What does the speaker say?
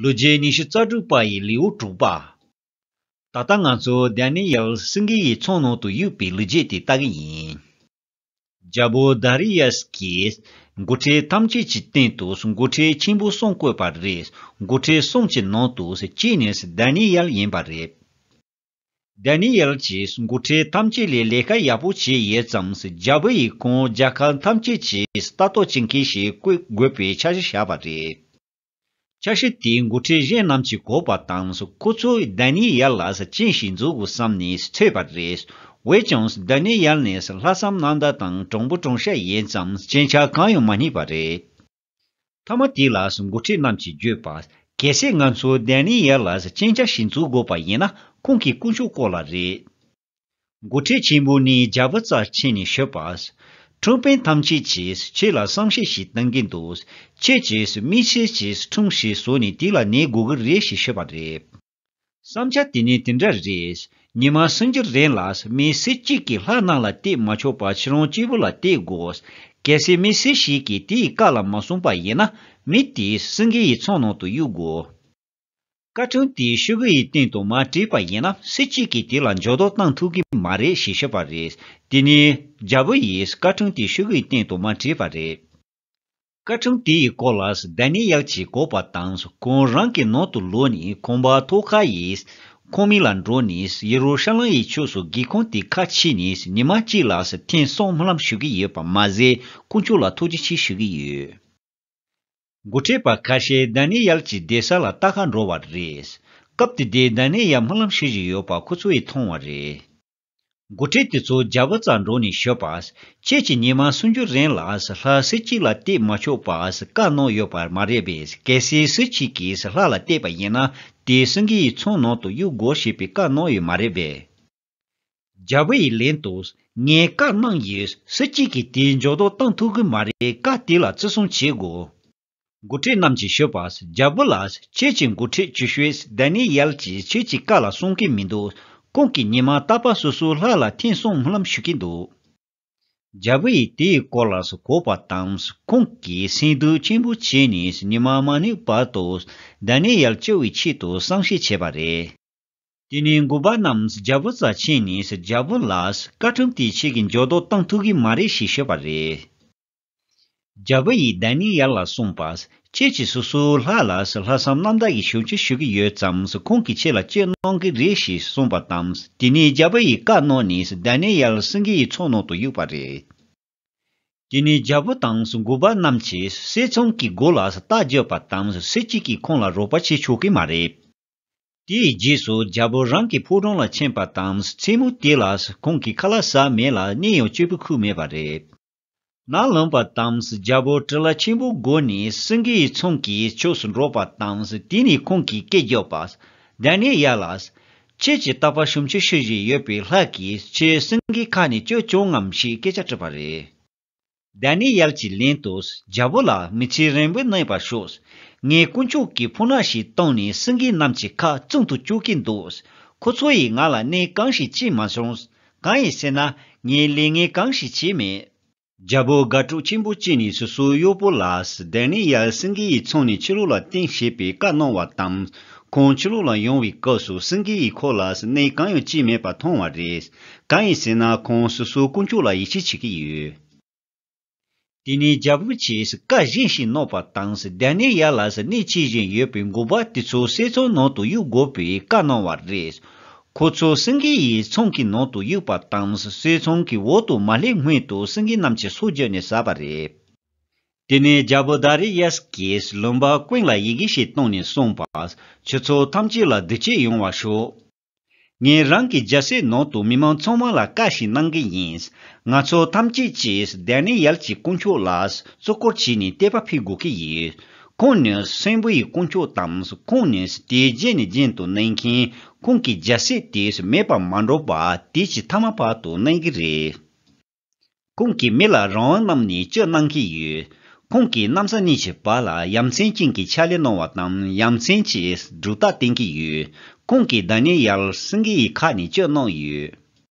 ལོ་རྗེས་ཉི་ཤུ་རྩ་དྲུག་པ་ཡི་ལེའུ་དྲུག་པ། ད་ལྟ་ང་ཚོ་དཱན་ནེ་ཡལ་སིང་གེ་ཡི་ཚོགས་ནང་དུ་གཡུགས་པའི་ལོ་རྗེས་དེ་ལྟ་གི་ཡིན། རྒྱལ་པོ་དཱ་རི་ཡཱས་ཀྱིས་མགོ་ཁྲིད་ཐམས་ཅད་ཀྱི་སྟེང་དུ་མགོ་ཁྲིད་ཆེན་པོ་གསུམ་བཀོད་པ་རེད། མགོ་ཁྲིད་གསུམ་གྱི་ནང་དུ་གཅིག་ནི་དཱན་ནེ་ཡལ་ཡིན་པ་རེད། Daniel། ཀྱིས་མགོ་ཁྲིད་ཐམས་ཅད་ལས་ལས་ཀ་ཡག་པོ་བྱས་ཡོད་ཙང་རྒྱ་བོད་ཡིག་ཁོངས་རྒྱ་གར་ཐམས་ཅད་ཀྱིས་ལྟ་རྟོག་བྱེད་མཁན་ཞིག་བཀོད་དགོས་པའི་འཆར་གཞི་བཞག་པ་རེད། འཆར་གཞི་དེ་མགོ་ཁྲིད་གཞན་རྣམས་ཀྱིས་གོ་བ་དང་ཁོ་ཚོས Daniel ལ་སྤྱན་ཞིག་འཛུགས་དགོས་བསམ་ནས་ཐོས་པ་རེད། འོས་ཀྱང Daniel ནི་ལྷག་བསམ་གནང་དག་དང་དྲང་པོ་དྲང་ཤ་ཡིན་ཙང་སྤྱན་ཆ་གང་ཡང་མ་རྙེད་པ་རེད། ཐ་མ་དེ་ལ་འགོ་ཁྲིད་རྣམས་ཀྱིས་བརྗོད་པ། གལ་སྲིད་ང་ཚོས་དཱན་ནེ་ཡཱེ་ལ་གཅིན་སྐྱག་ཞིག་འཛུགས་དགོས་པ་ཡིན་ན་ཁོང་གི་དཀོན་མཆོག་སྐོར་ལ་རེད། འགོ་ཁྲིད་ཆེན་པོ་ནི་རྒྱ་བུ་རྩར་ཕྱིན་ནས་ཤོད་པ། ཁྲུང་ཕེན་ཐམས་ཅད་ཀྱིས་ཁྱེད་ལ་བསམ་ཤེས་ཤིག་གཏོང་གི་འདུག་ཁྱེད་ཀྱིས་མི་ཕྱེད་ཀྱིས་ཁྲུང་ཞིག་བཟོས་ནས་དེ་ལ་ནད་འགོ་གི་རེད་ཞེས་ཤོད་པ་རེད། བསམ་བྱ་དེ་ནི་དེ་འདྲ་རེད། ཉི་མ་སྲིང་རྒྱུ་རན་ལ་མི་སེར་གཅིག་གིས་ལྷ་གནང་ལ་བཏེག་མ་ཆོག་པར་ཕྱི་རོང་སྤྱིལ་བུ་ལ་བཏེག་དགོས། གལ་སྲིད་མི་སེར་ཞིག་གིས་དེ་ཡི་བཀའ་ལ་མ་བསྲུངས་པ་ཡིན་ན། མི་དེས་སྲིང་རྒྱུ་ཡི་ཚོགས་ནང་དུ་གཡུག་དགོས། བཀའ་དྲུང་དེས་ཤོད་རྒྱུ་ཡི་སྟེང་དུ་མ་བྲིས་པ་ཡིན་ན་སེར་གཅིག་གིས་དེ་ལ་འཇོག་རྡོག་བཏང་ཐུབ་གི་མ་རེད་ཞེས་བཤད་པ་རེད། དེ་ནི་རྒྱལ་པོ་ཡིས་བཀའ་དྲུང་དེས་ཤོད་རྒྱུ་ཡི་སྟེང་དུ་མ་བྲིས་པ་རེད། བཀའ་ཁྲིམས་དེ་ཡི་སྐོར་ལ་སྡད་ནས་ཡག་ཅིག་གོ་བ་དང་ཁོང་རང་གི་ནང་དུ་ལོས་ནས་ཁོང་བ་ཐོ་ཁ་ཡིས་ཁོང་མིག་ལ་འགྲོ་ནས་ཡེ་རུ་ཤ་ལམ་ཡི་ཕྱོགས་སུ་སྒེའུ་ཁུང་དེ་ཁ་ཕྱིས་ནས་ཉི་མ་གཅིག་ལ་ཐེངས་གསུམ་ལྷམ་ཞུ་གི་ཡོད་པ་མ་ཟད་དཀོན་མཆོག་ལ་ཐུགས་རྗེ་ཆེ་ཞུ་གི་ཡོད། མགོ་ཁྲིད་པ་ཁ་ཤས་སྡད་ནས་ཡག་ཅིག་བསྡད་ས་ལ་ལྟ་ཁ་འགྲོ་བ་རེད། སྐབས་དེ་དུས་སྡད་ནས་ཡག་སྨོན་ལམ་ཞུ་བཞིན་ཡོད་པ་ཁོ་ཚོ་ཡིས་མཐོང་བ་རེད། དགུ་ཁྲི་དེ་ཚོ་རྒྱ་བོད་རྩ་འགྲོགས་ནས་ཤོད་པ། ཁྱེད་ཀྱི་ཉི་མ་སུན་འགྱུར་རན་ལ་ལྷ་སྲིད་གཅིག་ལ་གཏད་མ་ཆོག་པ་བཀའ་གནང་ཡོད་པ་མ་རེད་པས་གལ་སྲིད་སྲིད་གཅིག་གིས་ལྷ་ལ་གཏད་པ་ཡིན་ན་དེ་སྲིད་འགའི་ཚོང་ནང་དུ་གཡུག་དགོས་ཞེས་པའི་བཀའ་གནང་ཡོད་མ་རེད་པས། རྒྱ་བོད་ཡི་ལན་དུ་ངས་བཀའ་གནང་ཡོད་སྲིད་གཅིག་གིས་དེ་འཇོག་དོགས་གཏང་ཐུབ་གི་མ་རེད་བཀའ་དེ་ལ་བརྩི་སྲུང་བྱེད་དགོས། འགོ་ཁྲིད་རྣམས་ཀྱིས་ཤོད་པར་རྒྱལ་པོ་ལ་ཁྱེད་ཀྱི་འགོ་ཁྲིད་ཀྱི་ཤོས་སྡེ་ནི་ཡལ་གྱིས་ཁྱེད་ཀྱི་བཀའ་ལ་གསུང་གི་མི་འདུག་ཁོང་གིས་ཉི་མ་རྟག་པར་སོ་སོའི་ལྷ་ལ་ཐེངས་གསུམ་སྨོན་ཞུ་གི་འདུག། རྒྱལ་པོ་ཡིས་དེའི་སྐོར་ལ་གོ་བ་དང་ཁོང་གིས་སེམས་སྡུག་ཆེན་པོ་བྱས་ནས་ཉི་མ་མ་ནུས་བར་དུ་སྡེ་ནི་ཡལ་སྐྱོ་བའི་ཆེད་དུ་བསམ་ཤེས་བྱས་པ་རེད། དེ་ནས་འགོ་པ་རྣམས་རྒྱལ་པོ་རྩ་ཆེན་ནས་རྒྱལ་པོ་ལ་བཀའ་ཁྲིམས་དེ་ཁྱེད་ཀྱིས་འཇོག་ལྡོག་གཏང་ཐུབ་གི་མ་རེད་ཞེས་ཤོད་པ་རེད། རྒྱལ་བུ་ཡིས་བདེན་གཉིས་ཡར་ལ་གསུངས་པ། ཁྱེད་ཀྱིས་སོ་སོའི་ལྷ་ལ་ལྷག་བསམ་རྣམ་དག་གིས་ཞུ་ཅི་ཞུ་གི་ཡོད་ཙམ་ཁོང་གིས་ཁྱེད་ལ་ཅི་གནང་གི་རེད་ཞེས་གསུངས་པ་དང་དེ་ནས་རྒྱལ་བུ་ཡིས་བཀའ་གནང་ནས་བདེན་གཉིས་ཡར་སེང་གེ་ཡི་ཚོགས་ནང་དུ་གཡུགས་པ་རེད། དེ་ནས་རྒྱལ་བུ་དང་མགུར་པ་རྣམས་ཀྱིས་གསེར་ཚོང་གི་སྒོ་ལ་རྟ་རྒྱོབ་པ་དང་གསེར་གཅིག་གིས་ཁོང་ལ་རོགས་པ་བྱེད་ཆོག་གི་མ་རེད། དེའི་རྗེས་སུ་རྒྱལ་བུ་རང་གི་ཕོ་བྲང་ལ་ཕྱིན་པ་དང་མཚན་མོ་དེ་ལ་ཁོང་གི་ཁ་ལ་ཟ་མེད་ལ་གནས་ཡང་སྐྱོད་པའི་ཁུལ་མེད་པ་རེད། ནགས་ལུང་པ་དང་རྒྱལ་པོ་ཀྲི་ལ་ཆེན་པོའི་སྒོ་ནས་སེང་གེའི་ཚོང་གི་ཕྱོགས་སུ་འགྲོ་བ་དང་དེ་ནས་ཁོང་གིས་སྐད་རྒྱག་པ། དེ་ནས་ཡར་ལ། ཁྱེད་ཀྱི་རྟག་པར་ཤོམ་ཆུ་ཤི་བཞིན་ཡོད་པའི་ལྷ་གིས་ཁྱེད་སེང་གེའི་ཁ་ནས་བསྐྱོད་བྱུང་ངམ་ཞེས་སྐད་ཆ་དྲིས་པ་རེད། དེ་ནས་ཡར་གྱི་ལན་དུ་རྒྱལ་པོ་ལ་མི་ཚེ་རིང་པོ་གནས་པར་ཤོག། ངས་དཀོན་མཆོག་གི་ཕུགས་ནག་ཞིག་བཏང་ནས་སེང་གེ་རྣམས་ཀྱི་ཁ་བཙུམ་དུ་བཅུག་གིན་འདུག་ཁོ་ཚོ་ཡིས་ང་ལ་གནས་གང་ཞིག་བྱས་མ་བྱུང། གང་ཡིན་ཟེར་ན་ངས་ལས་ངན་གང་ཞིག་བྱས་མེད། རྒྱལ་པོ་དགའ་སྤྲོ་ཆེན་པོ་སྐྱེས་ནས་སོ་སོའི་གཡོག་པོ་ལ་བདེན་ནི་ཡ་སེང་གེ་ཡིས་ཚོང་ནས་ཕྱི་ལོགས་ལ་བསྟན་ཞེས་པའི་བཀའ་གནང་བ་དང། ཁོང་ཕྱི་ལོགས་ལ་ཡོང་བའི་སྐབས་སུ་སེང་གེ་ཡིས་ཁོ་ལ་གནས་གང་ཡང་བྱས་མེད་པ་མཐོང་བ་རེད། གང་ཡིན་ཟེར་ན་ཁོང་སོ་སོའི་དཀོན་མཆོག་ལ་ཡིད་ཆེས་བྱེད་ཀྱི་ཡོད། དེ་ནས་རྒྱལ་པོ་ཆེས་བཀའ་བཞིན་ཞིང་ནོག་པ་དང་བདེ་གནས་ཡར་ལ་གནས་མཆིས་བཞིན་ཡོད་པའི་མགུ་བ་དེ་ཚོ་སའི་ཚོང་ནང་དུ་གཡུག་དགོས་པའི་བཀའ་གནང་བ་རེད། ཁོ་ཚོ་སེང་གེ་ཡི་ཚོང་གི་ནང་དུ་གཡུག་པ་དང་སའི་ཚོང་གི་འོག་ཏུ་མ་སླེབས་སྔོན་དུ་སེང་གེ་རྣམས་ཀྱི་སྲོག་བརྗོད་ནས་ཟ་བ་རེད། དེ་ནས་རྒྱལ་པོ་དཱ་རེ་ཡཱས་ཀྱིས་བློན་པ་ཀུན་ལ་ཡི་གེ་ཞིག་བཏང་ནས་གསུངས་པ། ཁྱོད་ཚོ་ཐམས་ཅད་ལ་བདེ་སྐྱིད་ཡོང་བ་ཤོག། ངས་རང་གི་རྒྱལ་སའི་ནང་དུ་མི་མང་ཚང་མ་ལ་བཀའ་ཞིག་གནང་གི་ཡིན། ང་ཚོ་ཐམས་ཅད་ཀྱིས་དཱེ་ནེ་ཡལ་གྱི་དཀོན་མཆོག་ལ་གཙོ་སྐོར་བྱས་ནས་དད་པ་འཕེལ་དགོས་ཀྱི་ཡོད། ཁོང་ནི་སེམས་དཔའི་དཀོན་མཆོག་དང་ཁོང་ནི་དེ་རྗེས་ནས་རྗེས་དུ་གནས་མཁན་ཁོང་གི་རྒྱལ་སྲས་དེ་མེད་པར་མ་འགྲོ་བར་དུས་ཀྱི་མཐའ་མ་བར་དུ་གནས་ཀྱི་རེད། ཁོང་གི་མི་ལ་རང་དབང་རྣམས་ནི་སྤྱོད་གནང་གིས་ཡོད། ཁོང་གིས་གནམ་ས་གཉིས་ཀྱི་བར་ལ་ཡ་མཚན་ཅན་གྱི་ཕྱག་ལས་གནང་བ་དང་ཡ་མཚན་གྱི་སྒྲུབ་རྟགས་བསྟན་གྱི་ཡོད། ཁོང་གིས་བདག་ཉིད་ཡར་སེངྒེ་ཡི་ཁ་ནས་སྤྱོད་གནང་ཡོད།